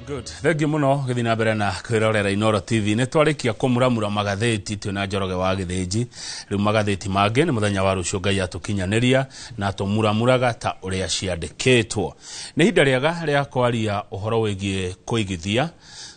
Good. Thank you muno githii na mbere na kwirorera Inoro TV nä twarĩkia kũmuramura magathĩti twĩ na njoroge wa gĩthĩnji rĩu magathĩti mangĩ nĩ mũthenya wa rũciũ ngai atũkinyanĩria na tũmuramuraga ta ũrĩa ciandĩkĩtwo nĩ ihinda rĩega rĩa kwaria ũhoro wĩgiĩ kũigithia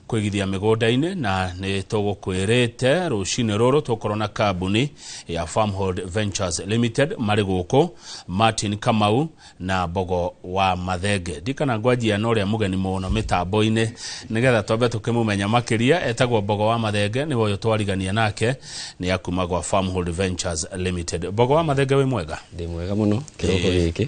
kwĩgithia mĩgũnda-inĩ na nĩ tũgũkwĩrĩte rũcinĩ rũrũ tũkorwo na kambuni ya Farmhold Ventures Limited marĩ gũkũ Martin Kamau na Mbogo wa Mathenge ndikana ngwanjia na ũrĩa mũgeni mũno mĩtambo-inĩ nĩgetha twambe tũkĩmũmenya makĩria etagwo Mbogo wa Mathenge nĩwe ũyũ twarigania nake nĩ akuma gwa Farmhold Ventures Limited Mbogo wa Mathenge wĩ mwega ndĩ mwega mũno kĩroko gĩkĩ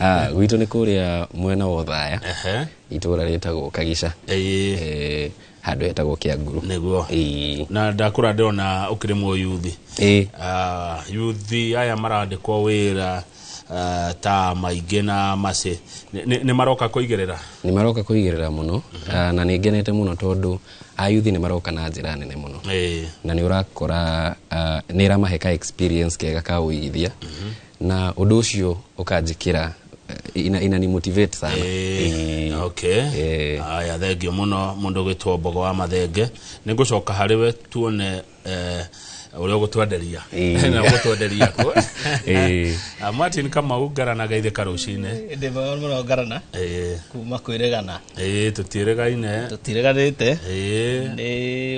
Ah, gwitũ nä kå rä a mwena wa thaya Ehe. itå ra rä tagwo kagica Ĩĩ. Eh, handå hetagwo kä anguru nĩguo Ĩĩ. na ndakũra ndĩrona ũkĩrĩ mũyuthi Ĩĩ. Ah, yuthi aya marandĩkwo wĩra ah, ta maingĩ na macĩ Nĩ- nĩ nĩ maroka kũigĩrĩra nä maroka kå igä rä ra må no na nä ngenete må no tondå ayuthi nä maroka na njä ra nene må no Ĩĩ. na nä å rakora nä ĩramahe ka experience kega ka å igithia na undu ucio ukanjikira eh, ina, ina ni motivate sana Eh, okay Eh. aya thengio muno mundu gwitwo mbogo wa mathenge ni ngucoka hari we tuone eh, uria ugutwenderia Eh. na ugutwenderia ku Eh. Ah, martin kamau ngaranaga ithe karucine ndĩmwe mũno ngarana Eh, kuma kwĩregana ĩĩ tũtiĩrĩgaine tũtireganĩte ĩĩ nĩ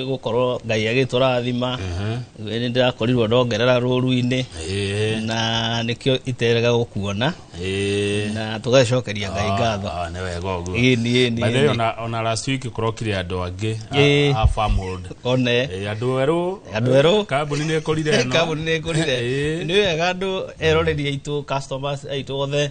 gũkorwo ngai agĩtũrathima Mhm. nĩ ndĩrakorirwo ndongerera rũru-inĩ ĩĩ na nĩkĩo iterega gũkuona ĩĩ na tũgacokeria ngai ngatho Ah, nĩ wega ũguo Ĩni, ĩni, By the way, ĩni. ona- ona last week kũrokire andũ angĩ Ĩĩ. a- a family. one Eh, andũ erũ Andũ erũ. kambuni nä kå rire kambuni nä kå rire Ĩĩ. nä wega andå eroreri aitå customers aitå othe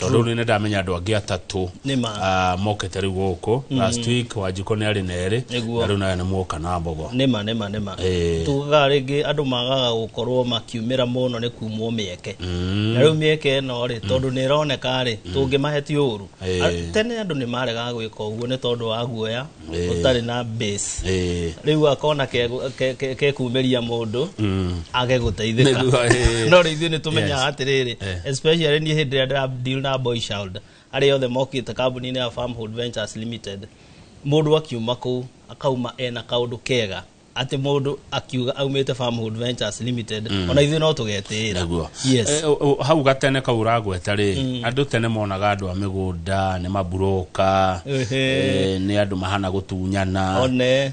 tondå nä ndamenya andå angä atatå Nĩ ma. ah, mokete rä u gå kå last week wanjikå nä arä na erä Nĩguo. na rä u nawe nä mwoka na mbogo nĩma nĩma nĩma Eh. tugaga rĩngĩ andũ magaga gũkorwo makiumĩra mũno nĩ kumwo mĩeke na rĩu mĩeke ĩno rĩ tondũ nĩ ĩroneka rĩ tũngĩmahe ti ũru Eh. A- tene andũ nĩ maregaga gwĩka ũguo nĩ tondũ wa guoya Eh. ũtarĩ na base Eh. rĩu akona kegũ- ke- ke- kekumĩria mũndũ Mm. age gũteithĩka Nĩguo, eh. no rĩu ithuĩ nĩ tũmenyaga Yes. atĩrĩrĩ Eh. especially niĩ hĩndĩ ĩrĩa ndĩra deal na boy child arĩa othe mokĩte kambuni-inĩ ya farmhold ventures limited mũndũ akiuma kũu akauma ena kaũndũ kega atĩ mũndũ akiuga aumĩte Farmhood Ventures Limited mm. ona ithuĩ no tũgetĩĩra Nĩguo. yes. Eh, o- o- hau gatene kau ũragweta rĩ andå tene monaga andå a mä gå nda nä mamburoka Ehe. eh, nä andå mahana gå tunyana One. eh,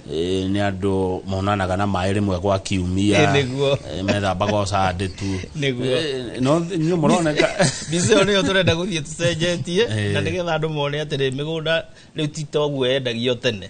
nä andå monanaga na maä rä mwe gwa Eh, kiumia nĩguo. eh, methambaga å candä tu Nĩguo. Eh, no nä moroneka mbica ĩyo nĩyo tũrenda gũthiĩ tũcenjetie Eh. na nĩgetha andũ mone atĩrĩ mĩgũnda rĩu ti toguo yendagio tene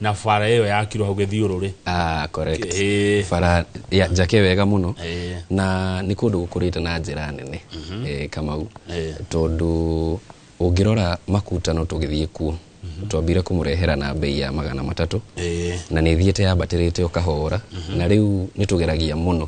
na bara ĩyo yakirwo hau gĩthiũrũrĩ Ah, correct. Ĩĩ. bara ya njake wega mũno Ĩĩ. na nĩ kũndũ gũkũrĩte na njĩra nene eh, kamau Ĩĩ. tondũ ũngĩrora makutano tũgĩthiĩ kuo twambire kũmũrehera na mbei ya magana matatũ Ĩĩ. na nĩ thiĩte yambatĩrĩte ũkahora na rĩu nĩ tũgeragia mũno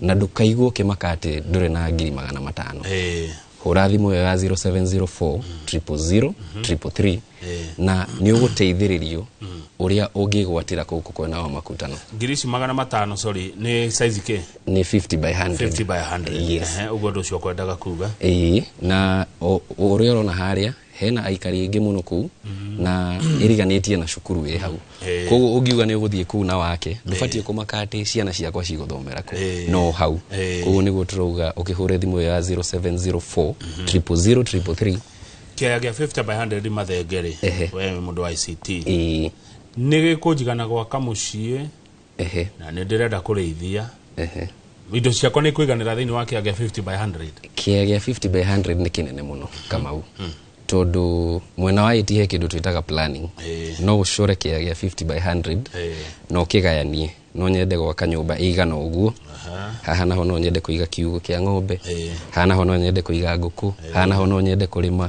na ndũkaigua ũkĩmaka atĩ ndũrĩ na ngiri magana matano Eh, hũra thimũ ĩyo ya 0704 000 333 na nĩ ũgũteithĩrĩrio ũrĩa ũngĩgwatĩra kũu kwena wa makutano ngiri ici magana matano sorry nĩ size kĩ nĩ 50 by 100 50 by 100 Yes. Ehe, ũguo ũndũ ũcio kwendaga kuga Ĩĩ, na o- o ũrĩa ũrona harĩa hena aikari aingĩ mũno kũu na ĩriganĩtie na cukuru wĩ hau Eh. koguo ũngiuga nĩ ũgũthiĩ kũu na wake ndũbatiĩ kũmaka atĩ ciana ciakwa cigũthomera kũ Eh. no hau Eh. koguo nĩguo tũrauga ũkĩhũre thimũ ĩyo ya 0704 000 333 kĩaya gĩa 50 by 100 mathenge rĩ Ehe. we mũndũ wa ict Ĩĩ. nĩ gĩkũnjigana gwaka mũciĩ Ehe. na nä ndä renda kå rä ithia Ehe. indo ciakwa nä kwäganä ra thä inä wa kä agä a 50 by 100 kĩea gĩa 50 by 100 nĩ kĩnene mũno kamau tondũ mwena wa ĩti he kĩndũ twĩtaga planning Eh. no ũcore kĩea gĩa 50 by 100 Eh. na ũkĩgayanie no nyende gwaka nyũmba ĩigana ũguo haha naho no nyende kũiga kiugũ kĩa ng'ombe Eh. haha naho no nyende kũiga ngũkũ haha naho no nyende kũrĩma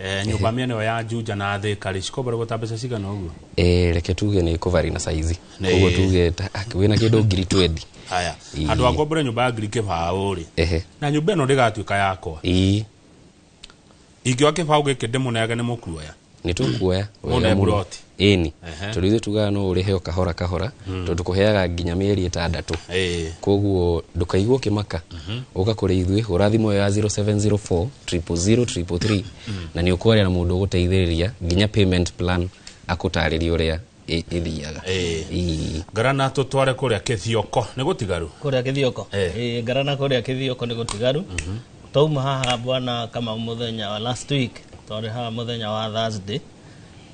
Eh, nyũmba mĩena ĩyo ya Juja na Thĩka rĩ cikobarĩgwo ta mbeca cigana ũguo? Eh, reke tuge nĩ kũvari na saizi Nĩ- koguo tuge ta- ah, wĩna kĩndũ ngiri twendi Haya. Ii. Andũ a ngombore nyũmba ya ngiri kĩbaũ rĩ. ehe Na nyũmba ĩno ndĩgatuĩka yakwa. ii Ingĩoa kĩbaũ gĩkĩ ndĩmũneage nĩ mũkuoya. nĩ tũkuoya Mũne wega mũno. buroti. Ĩni. Ehe. Tondũ ithuĩ tugaga no ũrĩhe o kahora kahora tondũ tũkũheaga nginya mĩeri ĩtandatũ Ĩĩ. koguo ndũkaigua ũkĩmaka ũka kũrĩ ithuĩ hũra thimũ ĩyo ya 0704 000 333 na nĩ ũkwaria na mũndũ ũgũteithĩrĩria nginya payment plan akũtarĩria ũrĩa ĩ- ĩthiaga Ĩĩ. Ii. ngarana tũtware kũrĩa kĩthioko nĩ gũtigaru kũrĩa kĩthioko Eh. Eh, ngarana kũrĩa kĩthioko nĩ gũtigaru twauma haha bwana kama mũthenya wa last week twarĩ haha mũthenya wa thursday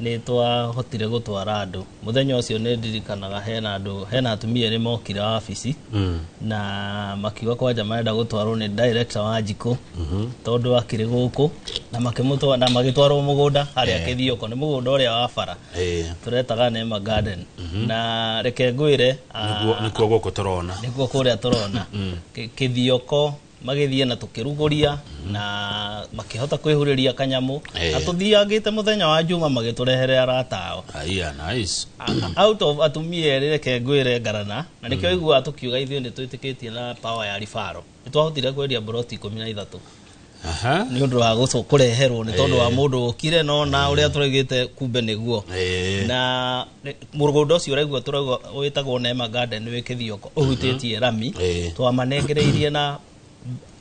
nĩ twahotire gũtwara andũ mũthenya ũcio nĩ ndirikanaga hena andũ hena atumia erĩ mokire wabici mm. na makiuga kwanja marenda gũtwarwo nĩ director wa njikũ mm-hmm. tondũ akĩrĩ gũkũ na makĩmũtwara na magĩtwarwo mũgũnda harĩa eh. kĩthioko nĩ mũgũnda ũrĩa wa bara eh. tũretaga Neema Garden mm-hmm. na reke ngwĩre ah, nĩkuo gũkũ tũrona nĩkuo kũrĩa tũrona mm. kĩthioko magĩthiĩ na tũkĩrugũria na makĩhota kwĩhurĩria kanyamũ Eh. na tũthiangĩte mũthenya wa njuma magĩtũrehere arata ao Aya, nice. A- out of atumia erĩ reke ngwĩre ngarana na nĩkĩo aiguaga tũkiuga ithuĩ nĩ twĩtĩkĩtie na power ya ribaro nĩ twahotire kwendia mburoti ikũmi na ithatũ Aha. nĩ ũndũ wa gũcũ- kũreherwo nĩ tondũ wa mũndũ ũkire no na ũrĩa tũregĩte kumbe nĩguo Eh. na nĩ- mũgũnda ũcio ũraigua tũrauga wĩtagwo Neema Garden wĩ Kĩthioko ũhutĩtie rami Ĩĩ. twamanengereirie na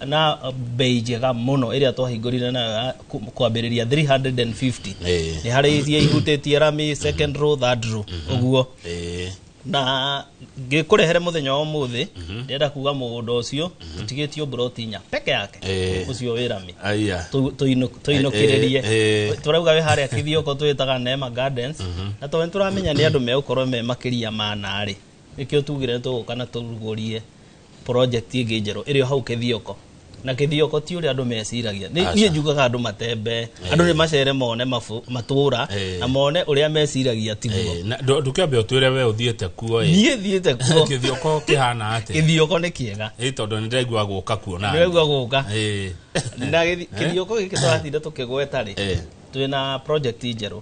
na bei njega mũno ĩrĩa twahingũrire nayo ya ku- kwambĩrĩria 350 Ĩĩ. nĩ harĩ iria ihutĩtie rami second row third row ũguo Ĩĩ. na ngĩkũrehere mũthenya wa ũmũthĩ ndĩrenda kuga mũgũnda ũcio ũtigĩtio mburoti inya peke yake Eh. ũcio wĩ rami aya Tũ- tũinũ- tũinũkĩrĩrie Eh, eh, eh. tũrauga wĩ harĩa kithioko twĩtaga nema gardens na tondũ nĩtũramenya nĩ andũ megũkorwo me makĩria ma narĩ nĩkĩo tugire tũgũka na tũrugũrie project ĩngĩ njerũ ĩrĩ o hau kĩthioko na kĩthioko ti ũrĩa andũ meciragia Nĩ- Aca. niĩ njugaga andũ matembe andũ nĩ macere mone mabu- matũũra Eh. na mone ũrĩa meciragia tiguo Eh, na ndũ- ndũkĩambe ũtwĩre we ũthiĩte kuo ĩ niĩ thiĩte kuo kĩthioko kĩhana atĩ gĩthioko nĩ kĩega ĩ tondũ nĩ ndaigua gũka kuo na nĩraigua gũka Eh. na gĩthi- kĩthioko gĩkĩ tũratinda tũkĩgweta rĩ Eh. twĩna project njerũ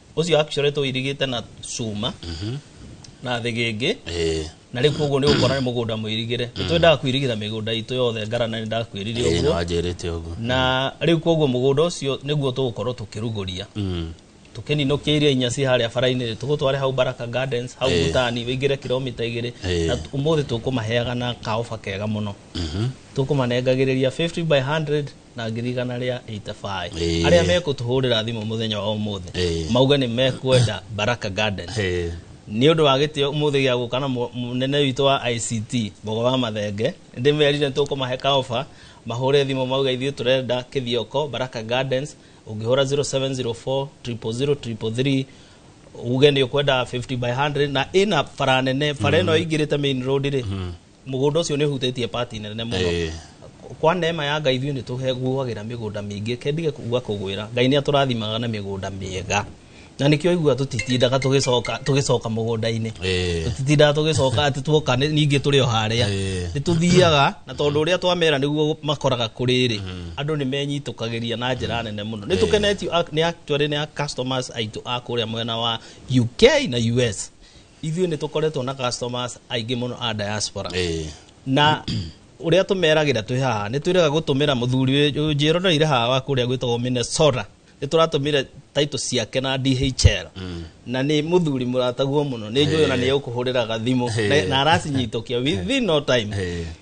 ũcio actually tũirigĩte na cuma na thĩgĩngĩ Eh, na rĩu koguo nĩ ũkora nĩ mũgũnda mũirigĩre nĩ twendaga kwirigĩra mĩgũnda itũ yothe ngarana nĩ ndakwĩrire eh, ũguo nĩwanjĩrĩte ũguo na rĩu koguo mũgũnda ũcio nĩguo tũgũkorwo tũkĩrugũria Mm, tũkĩninũkia iria inya ci harĩa bara-inĩ tũgũtware hau baraka gardens hau Eh. butani wĩingĩre kilomita igĩrĩ Eh. na t- ũmũthĩ tũkũmaheaga na kaoba kega mũno tũkũmanengagĩrĩria 50 by 100 na ngiri igana rĩa itabaĩ Ĩĩ. arĩa mekũtũhũrĩra thimũ mũthenya wa ũmũthĩ Ĩĩ. mauge nĩ mekwenda baraka garden Eh, nĩ ũndũ wa gĩtĩo mũthĩ gĩa gũka na mũ- mũnene witũ wa ict mbogo wa mathenge ndĩmerire tũkũmahe kaoba mahũre thimũ mauga ithuĩ tũrenda kĩthioko baraka gardens ũngĩhũra 0704 000 333 uge nĩ ũkwenda 50 by 100 na ĩna bara nene bara ĩno ĩingĩrĩte main road rĩ mũgũnda ũcio nĩ ũhutĩtie pati nene mũno Eh. kwa neema ya ngai ithuĩ nĩ tũguagĩra mĩgũnda mĩingĩ kendige kuga kũgwĩra ngai nĩ atũrathimaga na mĩgũnda mĩega na nĩkĩo igua tũtitindaga tũgĩcoka tũgĩcoka mũgũnda-inĩ Eh. tũtitindaga tũgĩcoka atĩ tuoka nĩ- ningĩ tũrĩ o harĩa Eh. nĩ tũthiaga na tondũ ũrĩa twamera nĩguo makoraga kũrĩrĩ andũ nĩ menyitũkagĩria na njĩra nene mũno nĩ tũkenetio a- nĩ actually nĩ a customers aitũ a kũrĩa mwena wa UK na US ithuĩ nĩ tũkoretwo na customers aingĩ mũno a diaspora Eh, na ũrĩa tũmeragĩra twĩ haha nĩ twĩrega gũtũmĩra mũthuri ũyũ njĩroneire haha wa kũrĩa gwĩtagwo minnesota nĩ tũratũmĩra taito ciake na dhl na nĩ mũthuri mũrataguo mũno nĩ njũĩ ona nĩ ũkũhũrĩraga thimũ na- na aracinyitũkia within no time eh,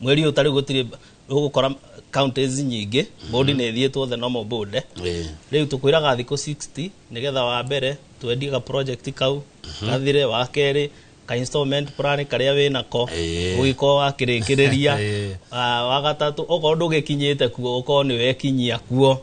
mweri ũyũ tarĩu gũtirĩ ũgũkora counties nyingĩ bũndi nĩ ĩthiĩtwo the normal bũnde Eh. rĩu tũkwĩraga thikũ 60 nĩgetha wa mbere twendie ga project kau gathire wa kerĩ ka installment plan karĩa wĩ nako Eh. ũgĩkorwo wakĩrĩkĩrĩria Eh. Ah, wa gatatũ okorwo ndũgĩkinyĩte kuo ũkorwo nĩ wekinyia kuo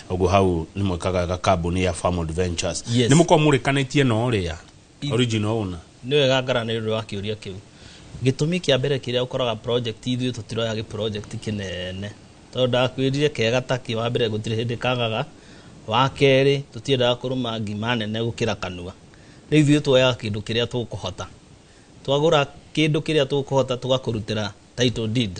Ogo hau nĩ mwĩkaga ga kambuni ya Farmwood Ventures. Yes. Nĩ mũkorwo mũrĩkanĩtie na ũrĩa I- original owner. nĩ wega ngarana nĩ ũndũ wa kĩũria kĩu gĩtũmi kĩa mbere kĩrĩa ũkoraga project ithuĩ tũtiroya gĩ project kĩnene tondũ ndakwĩrire kega ta kĩ wa mbere gũtirĩ hĩndĩ kagaga wa kerĩ tũtiendaga kũrũma ngima nene gũkĩra kanua rĩu ithuĩ twoyaga kĩndũ kĩrĩa tũkũhota twagũra kĩndũ kĩrĩa tũkũhota tũgakũrutĩra title deed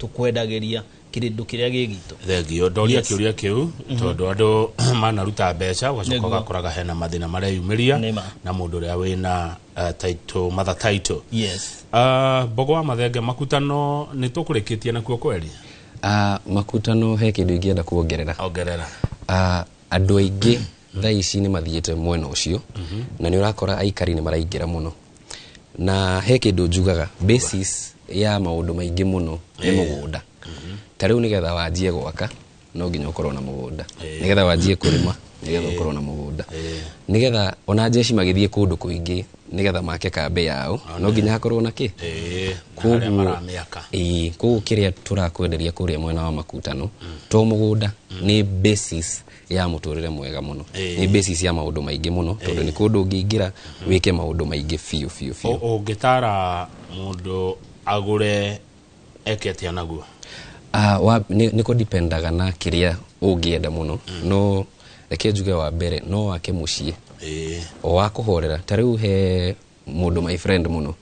tũkwendagĩria kĩrĩndũ kĩrĩa gĩ gitũ thengio ndoria Yes. kĩũria kĩu tondũ andũ manaruta mbeca ũgacoka Nĩguo. ũgakoraga hena mathĩna mareyumĩria Nĩma. na mũndũ ũrĩa wĩna uh, title mother title yes Ah, mbogo wa mathenge makutano nĩ tũkũrĩkĩtie nakuo kweri Ah, makutano he kĩndũ ingĩenda kuongerera ongerera Ah, andũ aingĩ thaa ici nĩ mathiĩte mwena ũcio na nĩ ũrakora aikari nĩ maraingĩra mũno na he kĩndũ njugaga basis ya maũndũ maingĩ mũno nĩ mũgũnda ta rĩu nĩgetha wanjie gwaka no nginya ũkorwo na mũgũnda nĩgetha wanjie kũrĩma nĩgetha ũkorwo na mũgũnda nĩgetha ona njeci magĩthiĩ kũndũ kũingĩ nĩgetha make kambĩ yao no nginya hakorwo na kĩ Eh, na harĩa Koguo- maramĩaka Ĩĩ, koguo kĩrĩa tũrakwenderia kũrĩa mwena wa makutano to mũgũnda nĩ basis ya mũtũrĩre mwega mũno Ĩĩ. nĩ basis ya maũndũ maingĩ mũno tondũ nĩ kũndũ ũngĩingĩra wĩke maũndũ maingĩ biũ biũ biũ Ũ- ũngĩtara mũndũ agũre eke atĩa naguo Ah, wa- nĩ nĩ kũdipendaga na kĩrĩa ũngĩenda mũno no reke njuge wa mbere no wake mũciĩ Ĩĩ. o wa kũhorera ta rĩu he mũndũ my friend mũno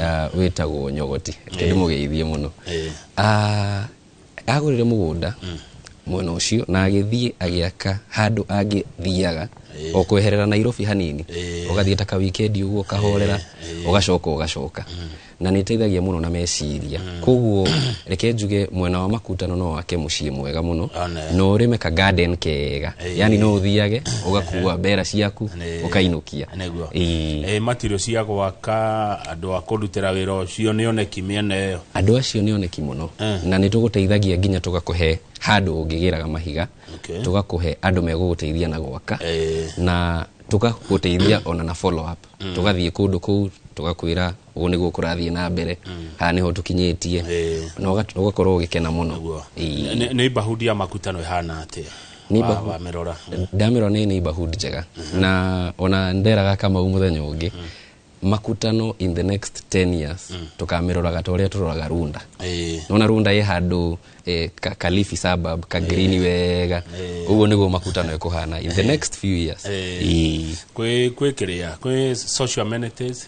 ah, wĩtagwo nyogoti ndĩ mũgeithie mũno Eh. Ah, agũrire mũgũnda mwena ũcio na agĩthiĩ agĩaka handũ angĩthiaga o kweherera nairobi hanini ũgathiĩ ta kawikendi ũguo ũkahorera ũgacoka ũgacoka na nĩ ĩteithagia mũno na meciria koguo reke njuge mwena wa makutano no wake muciĩ mwega muno One. na ũrĩme ka garden kega Ĩĩ. yani no ũthiage ũgakua mbera ciaku Nĩ- ũkainũkia nĩguo Ĩĩ. Eh, material cia gwaka andũ a kũrutĩra wĩra ũcio nĩ oneki mĩena ĩyo andå acio nä oneki må no Eh. na nä tå gå teithagia nginya tå gakå he handå å ngä gä raga mahiga Okay. tå gakå he andå megå gå teithia na gwaka Eh. na tå gagå teithia ona na follow up tå gathiä kå ndå kå u tå gakwä ra ũguo nĩguo kũrathiĩ na mbere haha nĩho tũkinyĩtie Ĩĩ. na ũga- ũgakorwo ũgĩkena mũno Guo. Ĩĩ. Nĩ- nĩ bahundi ya makutano ĩhana atĩa Nĩ Wa- bahu- wamĩrora ndamĩrwo nĩ neighborhood njega na ona nderaga kamau mũthenya ũngĩ makutano in the next 10 years tũkamĩroraga ta ũrĩa tũroraga runda Ĩĩ. nona runda ĩ handå eh, ka, kalifi suburb ka green wega ũguo nĩguo makutano ĩkũhana in the next few years Ĩĩ. kwĩ kwĩ kĩrĩa kwĩ social amenities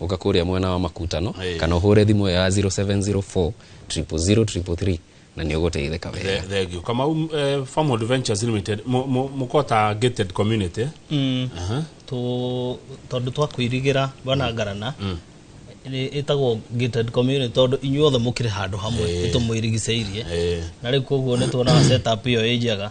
ũka kũrĩa mwena wa makutano Ĩĩ. kana ũhũre thimũ ĩyo ya 0704 000 333 na nĩ ũgũteithĩka wega Th- thank you kamau eh, farm adventures limited mu- mu- muko ta gated community Aha. tũ- tondũ twakwĩrigĩra bana ngarana nĩ- ĩtagwo gated community tondũ inyuothe mũkĩrĩ handũ hamwe Ĩĩ. nĩtũmwĩrigicĩirie Eh. na rĩu koguo nĩtuonaga setup ĩyo ĩ njega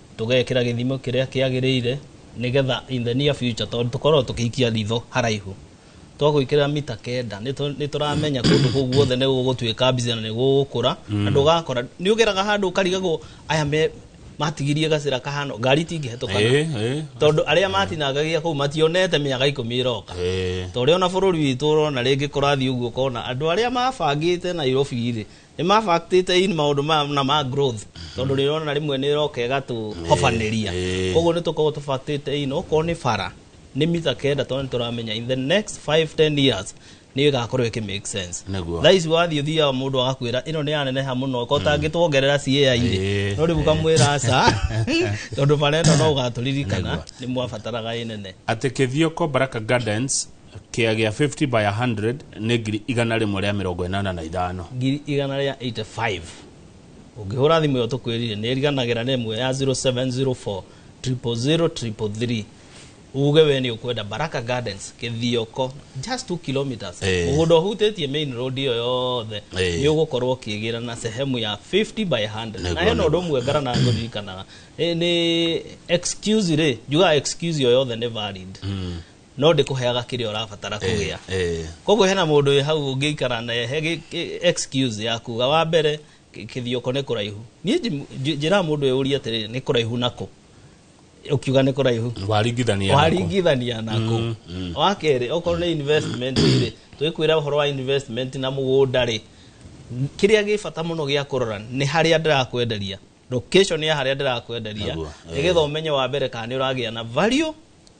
tũgekĩra gĩthimo kĩrĩa kĩagĩrĩire nĩgetha in the near future tondũ tũkoragwo tũkĩikia ritho haraihu twagwĩkĩra mita kenda nĩtũ- nĩtũramenya kũndũ kũu guothe nĩ gũgũtuĩka mbica na nĩ gũgũkũra na ndũgakora nĩ ũgeraga handũ ũkarigagwo aya me matigirie gacĩra kahano ngari itingĩhetũkana Eh, eh. tondũ arĩa matinangagia kũu mationete mĩaka ikũmi ĩroka Eh. ta ũrĩa ona bũrũri witũ ũrona rĩngĩ kũrathiĩ ũguo ũkona andũ arĩa mabangĩte nairobi-rĩ nĩ ma factor in maũndũ maya na ma growth tondũ rĩrĩa ona rĩmwe nĩ ĩroka ĩgatũhobanĩria Ĩĩ. koguo nĩ tũkoragwo tũ factor in okorwo nĩ bara nĩ mita kenda tondũ nĩ tũramenya in the next 5 10 years nĩ ĩgakorwo ĩkĩ make sense Nĩguo. thaa ici wathiĩ ũthiaga mũndũ agakwĩra ĩno nĩ yaneneha mũno ko tangĩtuongerera cia irĩ Ĩĩ. no rĩu ũkamwĩra aca tondũ bara ĩno no ũgatũririkana Nĩguo. nĩ mwabataraga ĩnene atĩ kĩthioko baraka gardens kĩa gĩa 50 by 100 nĩ ngiri igana rĩmwe rĩa mĩrongo ĩnana na ithano ngiri igana rĩa 85 ũngĩhũra thimũ ĩyo tũkwĩrire nĩ ĩriganagĩra na ĩmwe ya 0704 000 333 uge we nĩ ũkwenda baraka gardens kĩthioko just 2 kilometers Eh. mũgũnda ũhutĩtie main road ĩyo yothe Eh. nĩ ũgũkorwo ũkĩgĩra na sehemu ya 50 by 100 na Nĩguo, hena nĩguo. ũndũ ũmwe ngara na ngũririkanaga Nĩ- nĩ excuse rĩ njugaga excuse ĩyo yothe nĩ valid no ndĩkũheaga kĩrĩa ũrabatara kũgĩa eh, eh. koguo hena mũndũ wĩ hau ũngĩikara na he gĩ- gĩ- excuse ya kuga wa mbere kĩ- kĩthioko nĩ kũraihu niĩ nji- nji- njĩraga mũndũ ũyũ ũria atĩrĩrĩ nĩ kũraihu nakũ ũkiuga nĩ kũraihu waringithania nako. waringithania nako Mm, mm. wa kerĩ okorwo nĩ investment rĩ twĩkwĩra ũhoro wa investment na mũgũnda rĩ kĩrĩa gĩ bata mũno gĩa kũrora nĩ harĩa ndĩrakwenderia location ya harĩa ndĩrakwenderia Naguo, eh. nĩgetha ũmenye wa mbere kana nĩ ũragĩa na value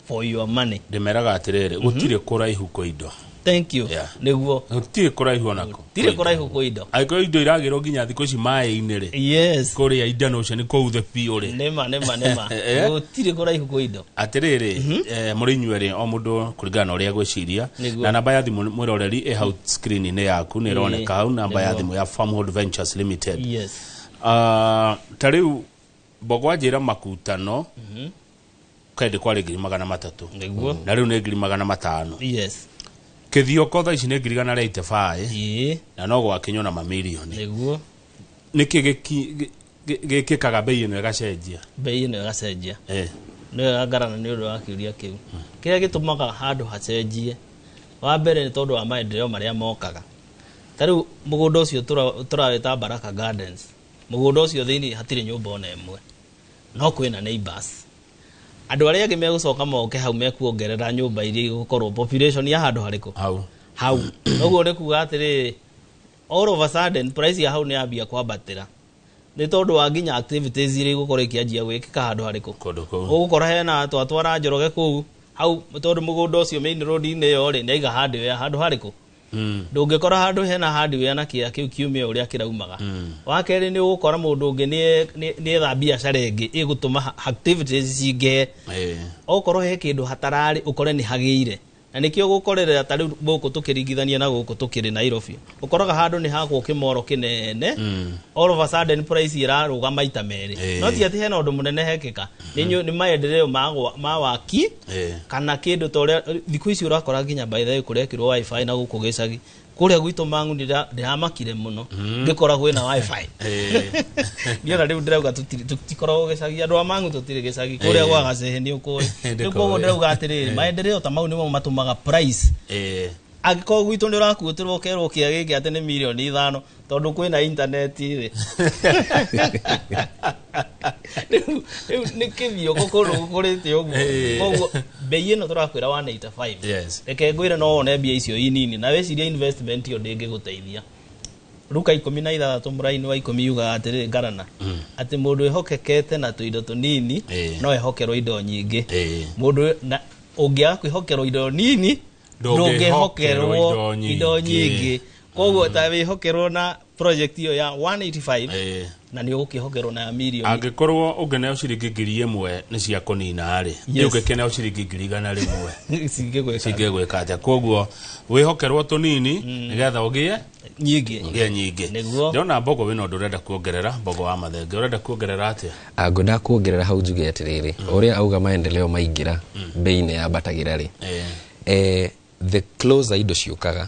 for your money ndĩmeraga atĩrĩrĩ gũtirĩ kũraihu kwa indo thank you Yeah. nĩguo gũtirĩ kũraihu onako tirĩ kũraihu kwa indo angĩkorwo indo iragĩrwo nginya thikũ ici maĩ-inĩ rĩ yes kũrĩa indano ũcio nĩ kũu the biũ rĩ nĩma nĩma nĩma Eh. gũtirĩ kũraihu kwa indo atĩrĩrĩ eh, mũrĩ inyuerĩ o mũndũ kũringana na ũrĩa gwĩciria Nĩguo. na namba ya thimũ mwĩroreri ĩ hau screen-inĩ yaku nĩ ĩroneka hau namba ya nĩguo. thimũ ya farmhold ventures limited yes Ah, ta rĩu mbogwa njĩra makutano kaĩndĩ kwarĩ ngiri magana matatũ Nĩguo. na rĩu nĩ ngiri magana matano yes kĩthioko thaa ici nĩ ngiri gana rĩa itebaĩ ĩĩ na no gwakinywo na mamirioni nĩguo nĩkĩ gĩki- gĩ- gĩ- gĩkĩkaga mbei ĩno ĩgacenjia mbei ĩno ĩgacenjia Eh, nĩyo ya ngarana nĩ ũndũ wa kĩũria kĩu kĩrĩa gĩtũmaga handũ hacenjie wa mbere nĩ tondũ wa maendeleo marĩa mokaga ta rĩu mũgũnda ũcio tũra- tũrawĩta baraka gardens mũgũnda ũcio thĩinĩ hatirĩ nyũmba ona ĩmwe no kwĩna neighbors andũ arĩa angĩ megũcoka moke hau mekuongerera nyũmba iria igũkorwo population ya handũ harĩkũ hau hau noguo nĩ kuga atĩrĩ all of a sudden price ya hau nĩ yambia kwambatĩra nĩ tondũ wa nginya activities iria igũkorwo ikĩanjia gwĩkĩka handũ harĩkũ kũndũ kũu ũgũkora hena twatwara njoroge kũu hau tondũ mũgũnda ũcio main road-inĩ ĩyo rĩ nĩ aiga handũ ya handũ harĩkũ mm. ndũngĩkora handũ hena hardware na kĩa kĩu kiumia ũrĩa kĩraumaga mm. wa kerĩ nĩ ũgũkora mũndũ ũngĩ nĩ- nĩ- nĩ etha biacara ĩngĩ ĩgũtũma ha- activities cingĩhe Eh, okorwo he kĩndũ hatararĩ ũkore nĩ hagĩire na nĩkĩo gũkorerera ta rĩu gũkũ tũkĩringithania na gũkũ tũkĩrĩ nairobi ũkoraga handũ nĩ hakwo kĩmoro kĩnene mm. all of a sudden price ĩrarũga maita merĩ Eh. no ti atĩ hena ũndũ mũnene hekĩka nĩ nyu- nĩ maendereo ma gwa- ma waki Eh. kana kĩndũ ta ũrĩa thikũ ici ũrakora nginya by the way kũrekĩrwo wifi na gũkũ gĩcagi kũrĩa gwitũ mangu ndĩra- ndĩramakire mũno ngĩkoragwo ĩna wifi Eh. niĩ ona rĩu ndĩrauga tũtirĩ- tũtikoragwo gĩcagi andũ a mangu tũtirĩ gĩcagi kũrĩa Eh. gwa gacehe nĩ ũkũĩ Ndĩkũĩ. rĩu koguo ndĩrauga atĩrĩrĩ maendereo ta mau nĩmo matũmaga price Eh. Angĩkorwo gwitũ nĩ ũrakuutĩrwo ũkerwo kĩa gĩkĩ atĩ nĩ mirioni ithano tondũ kwĩ na intaneti rĩ rĩu rĩu nĩ kĩthio gũkũrũ gũkũrĩte ũguo Ĩĩ. koguo mbei ĩno tũrakwĩra 185 Yes. reke ngwĩre no wone mbia icio inini na wĩcirie investment ĩyo ndĩngĩgũteithia ruka ikũmi na ithathatũ mũraini wa ikũmi yugaga atĩrĩ ngarana atĩ mũndũ ehokekete na tũindo tũnini Ĩĩ. no ehokerwo indo nyingĩ Ĩĩ. mũndũ na ũngĩaga kwĩhokerwo indo nini ndũngĩhokerwo indo nyingĩ. indo nyingĩ koguo ta wĩhokerwo na project iyo ya 185 Eh. na nĩ ũgũkĩhokerwo na ya mirioni angĩkorwo ũngĩneo ciringi ngiri ĩmwe nĩ cia kũnina-rĩ Yes. nĩ ũngĩkĩneo ciringi ngiri igana rĩmwe cingĩgwĩka cingĩgwĩka atĩa koguo wĩhokerwo tũnini nĩgetha ũgĩe nyingĩ ngĩa nyingĩ Nĩguo. ndĩrona mbogo wĩna ũndũ ũrenda kuongerera mbogo wa mathenge ũrenda kuongerera atĩa Ah, ngwendaga kuongerera hau njuge atĩrĩrĩ o ũrĩa auga maendeleo maingĩra mbei nĩ yambatagĩra rĩ Eh. eh, the closer indo ciũkaga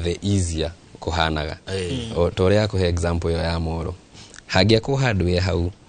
the easier kũhanaga Eh. O ta ũrĩa akũhe example ĩyo ya moro hangĩakwo handware hau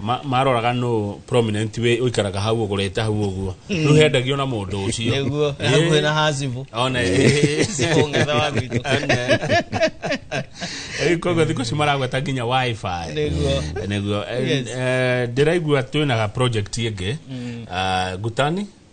ma- maroraga nũ prominent wĩ ũikaraga hau ũgũrĩte hau ũguo rĩu hendagio na mũndũ ũcio nĩguo Ĩĩ. hakuhĩ na hacibu Ona- Ũng'etha wa gwitũ. Rĩu koguo thikũ ici maragweta nginya wifi Nĩguo. nĩguo Eh, Yes. eh, ndĩraigua twĩna ga project ĩngĩ Ah, ngutani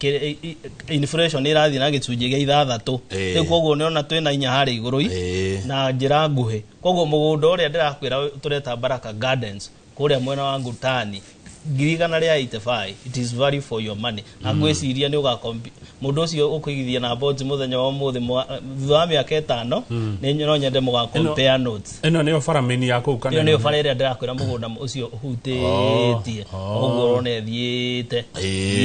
kĩ- i- i- inflation ĩrathiĩ na gĩcunjĩ gĩa ithathatũ Eh. rĩu koguo nĩona twĩna inya harĩ igũrũ i- Eh. na njĩra nguhĩ koguo mũgũnda ũrĩa ndĩrakwĩra tũreta baraka gardens kũrĩa mwena wa ngutani ngiri igana rĩa 85 it is value for your money na ngwĩciria nĩ ũgakompi mũndũ ũcio ũkũigithia na bonds mũthenya wa ũmũthĩ mwa- thutha wa mĩaka ĩtano nĩ no nyende mũgakompare notes ĩno nĩyo bara mĩni ya kũu kana ĩyo nĩyo bara ĩrĩa ndĩrakwĩra mũgũnda ũcio ũhutĩtie oh, oh. ũguo ũrona ĩthiĩte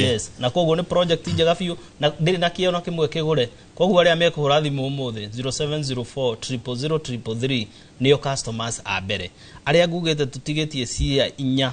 yes na koguo nĩ project njega biũ na ndĩrĩ na kĩo na kĩmwe kĩgũre koguo arĩa mekũhũra thimũ ũmũthĩ 0704 nĩyo customers a mbere arĩa ngugĩte tũtigĩtie cia inya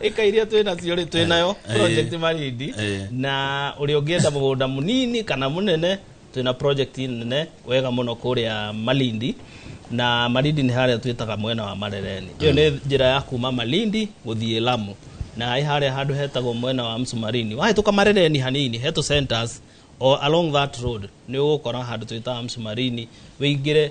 ĩka iria twĩ nacio rĩ twĩ nayo Eh, project eh. marindi Eh. na ũrĩa ũngĩenda mũgũnda mũnini kana mũnene twĩ na project nene wega mũno kũrĩa malindi na malindi nĩ harĩa twĩtaga mwena wa marereni ĩyo nĩ njĩra ya kuma malindi gũthiĩ lamu na ĩ harĩa handũ hetagwo mwena wa msumarini wahĩtũka marereni hanini hetu centers o along that road nĩ ũgũkora handũ twĩtaga msumarini wĩingĩre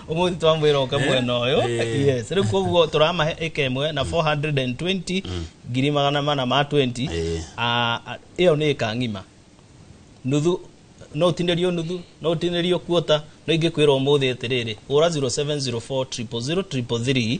umuthi twamwira uke Eh, mwena uyu eh. yes riu koguo turamahe ika imwe na 420 ngiri magana mana ma 20 Eh. Ah, ah, iyo ni ika ng'ima nuthu no utinĩrio nuthu no utinĩrio kuota no ingĩkwĩra ũmũthĩ atĩrĩrĩ hũra 0704 000 333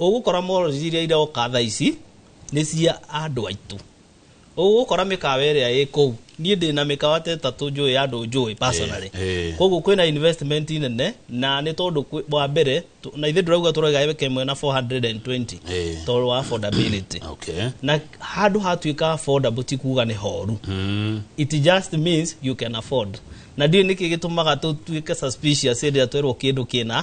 Ũgũkora mall iria iroka thaa ici nĩ cia andũ aitũ. Ũgũkora mĩkawa ĩrĩa ĩ kũu, niĩ ndĩ na mĩkawa ta ĩtatũ njũĩ ya andũ njũĩ personally. Eh, eh. Koguo kwĩna investment nene na nĩ tondũ kwĩ- wa mbere tũ- na ithuĩ ndĩrauga tũroiga ĩka ĩmwe na 420 Eh. tondũ wa affordability. Okay. Na handũ hatuĩka affordable ti kuga nĩ horu Mm. it just means you can afford na ndiũ nĩkĩ gĩtũmaga tũtuĩke suspicious rĩrĩa twerwo kĩndũ kĩna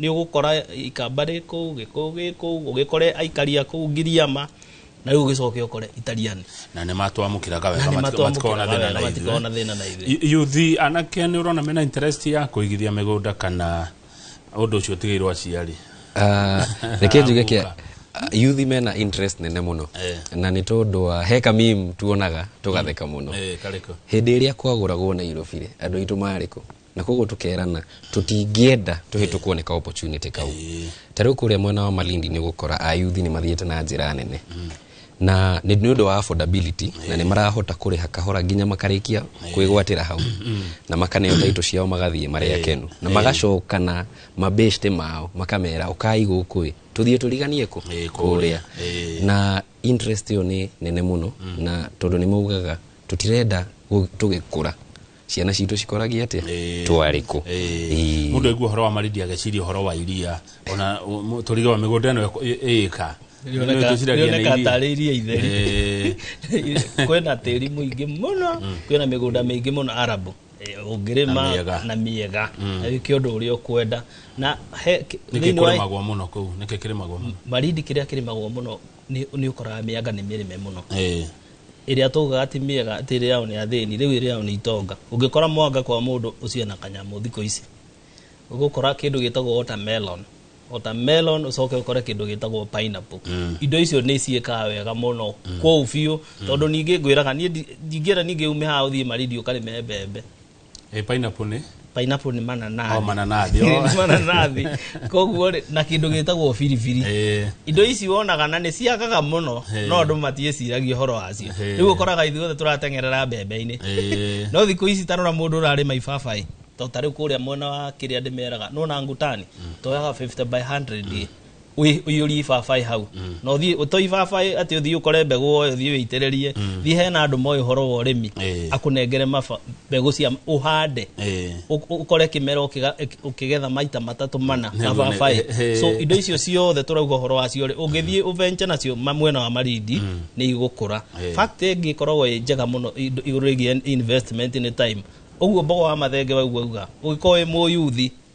Nĩ ũgũkora ikamba rĩ kũu, gĩkũyũ gĩ kũu, ũgĩkore aikari a kũu Ngiriama, na rĩu ũgĩcoke ũkore Italiani. Na nĩ matwamũkĩraga wega, matikoragwo na thĩna na ithuĩ. Yuthi anake nĩ ũrona mena interest ya kũigithia mĩgũnda kana ũndũ ũcio ũtigĩirwo aciari? Ah, reke njuge kĩa yuthi mena interest nene muno eh. na ni tondu wa he kamim tuonaga tugatheka muno eh, hĩndĩ ĩrĩa kwagũragwo Nairobi rĩ andũ aitũ marĩ kũ na koguo tukerana tutingĩenda tuhĩtũkwo nĩ ka opportunity kau ta rĩu kũrĩa mwena wa malindi nĩ gũkora ayuthi nĩ mathiĩte na njĩra nene na nĩ nĩ ũndũ wa affordability na nĩ marahota kũrĩha kahora nginya makarĩkia kwĩgwatĩra hau na makaneo taito ciao magathiĩ marĩ akenu na magacoka na mabeshte mao makamera ũkai gũkũ ĩ tũthiĩ tũriganie kũ Ĩ, kũrĩa na interest ĩyo nĩ nene mũno na tondũ nĩ maugaga tũtirenda gũ- tũgĩkũra ciana citå cikoragia atä Ĩĩ. twarä kå Ĩĩ. mundu aigua horo wa maridi ageciria horo wa iria ona turiga wa migunda ino iyika rioneka tarä iria itheri kwĩna tĩri mũingĩ mũno kwĩna mĩgũnda mĩingĩ mũno arabu Eh, Na ũngĩrĩma mĩega. na mĩega na wĩke ũndũ ũrĩa ũkwenda na he- nä kä thĩinĩ kå wa rä magwo må no kå u nä kä kä rä magwo må no marindi kĩrĩa kĩrĩmagwo mũno nĩ nĩ ũkoraga mĩanga nĩ mĩrĩme mũno Eh, ĩrĩa twaugaga ti mĩega atĩ ĩrĩayo nĩ athĩni rĩu ĩrĩayo nĩ itonga ũngĩkora mwanga kwa mũndũ ũcio ena kanyamũ thikũ ici ũgũkora kĩndũ gĩtagwo watermelon watermelon ũcoke ũkore kĩndũ gĩtagwo pineapple Mm. indo icio nĩ ciĩkaga wega mũno kũu biũ tondũ ningĩ ngwĩraga niĩ ndi- ndingĩenda ningĩ ume haha ũthiĩ marindi ũkarĩme mbembe Ĩ, pineapple nĩ pineapple nĩ mananathi Oh, mananathi, oh. Nĩ mananathi koguo rĩ na kĩndũ gĩtagwo biribiri Ĩ, indo ici wonaga na nĩ ciagaga mũno Hey. no andũ matiĩciragia ũhoro wacio Hey. rĩu ũkoraga ithuothe tũrateng'erera mbembe-inĩ ĩ, no thikũ ici tarora mũndũ ũrarĩma ibabaĩ to tarĩu kũrĩa mwena wa kĩrĩa ndĩmeraga nona ngutani toyaga 50 by 100 ĩ ũi- ũiyũrie ibabaĩ hau na ũthiĩ ũtoi ibabaĩ atĩ ũthiĩ ũkore mbegũ woe ũthiĩ wĩitĩrĩrie thiĩ hena andũ moĩ ũhoro wa ũrĩmi Eh. akũnengere maba- mbegũ cia ũhande Eh. Ũ- ũkore kĩmera ũkĩga- ũkĩ- ũkĩgetha maita matatũ mana Nĩguo nĩ- mababaĩ eh, eh. so indo icio ciothe tũrauga ũhoro wacio rĩ ũngĩthiĩ ũvenje nacio ma- mwena wa marindi nĩ igũkũra Eh. fact ĩngĩ ĩkoragwo ĩ njega mũno indo- igũrũ rĩgiĩ investment nĩ time ũguo mbogo wa mathenge waigua uga ũgĩkorwo wĩ mũyuthi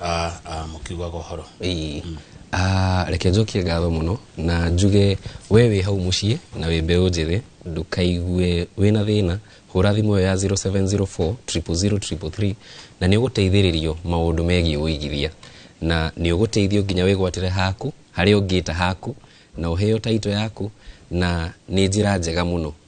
Ah, ah, mũkiugaga ũhoro Ii. Ah, reke njokie ngatho mũno na njuge we wĩ hau mũciĩ na wĩ mbeũ njĩthĩ ndũkaigue wĩ na thĩna hũra thimũ ĩyo ya 0704 00033 na nĩ ũgũteithĩrĩrio maũndũ megiĩ ũigithia na nĩ ũgũteithio nginya wĩgwatĩre haku harĩa ũngĩta haku na ũheo taito yaku na nĩ njĩra njega mũno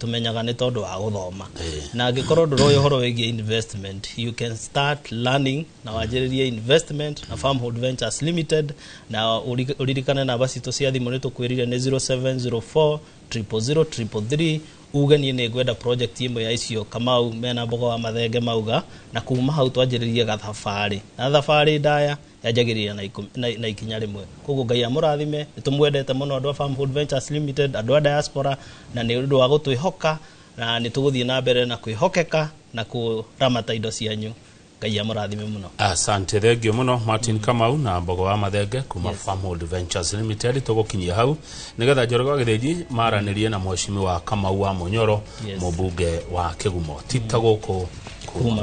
tũmenyaga nĩ tondũ wa gũthoma Eh. na angĩkorwo ndũroĩ ũhoro wĩgiĩ investment you can start learning na wanjĩrĩrie investment na farmhold ventures limited na ũri- ũririkane namba citũ cia thimũ nĩ tũkwĩrire nĩ 0704 000 333 uge niĩ nĩ ngwenda project ĩmwe ya icio kamau mena mboga wa mathenge mauga na kuma hau twanjĩrĩrie gathabarĩ na thabarĩ ndaya yanjagĩrĩria na ikũ- na- na ikinya rĩmwe koguo ngai amũrathime nĩ tũmwendete mũno andũ a Farm Food Ventures limited andũ a diaspora na nĩ ũndũ wa gũtwĩhoka na nĩ tũgũthiĩ na mbere na kwĩhokeka na kũramata indo cianyu ngai amũrathime mũno asante thengio muno martin kamau na mbogo wa mathenge kuma yes. farmhold ventures limited tũgũkinyia hau nĩgetha njoroge wa gĩthĩnji maranĩrie na mwecimi wa kamau wa mũnyoro Yes. mũmbunge wa kĩgumo tita gũkũ kuma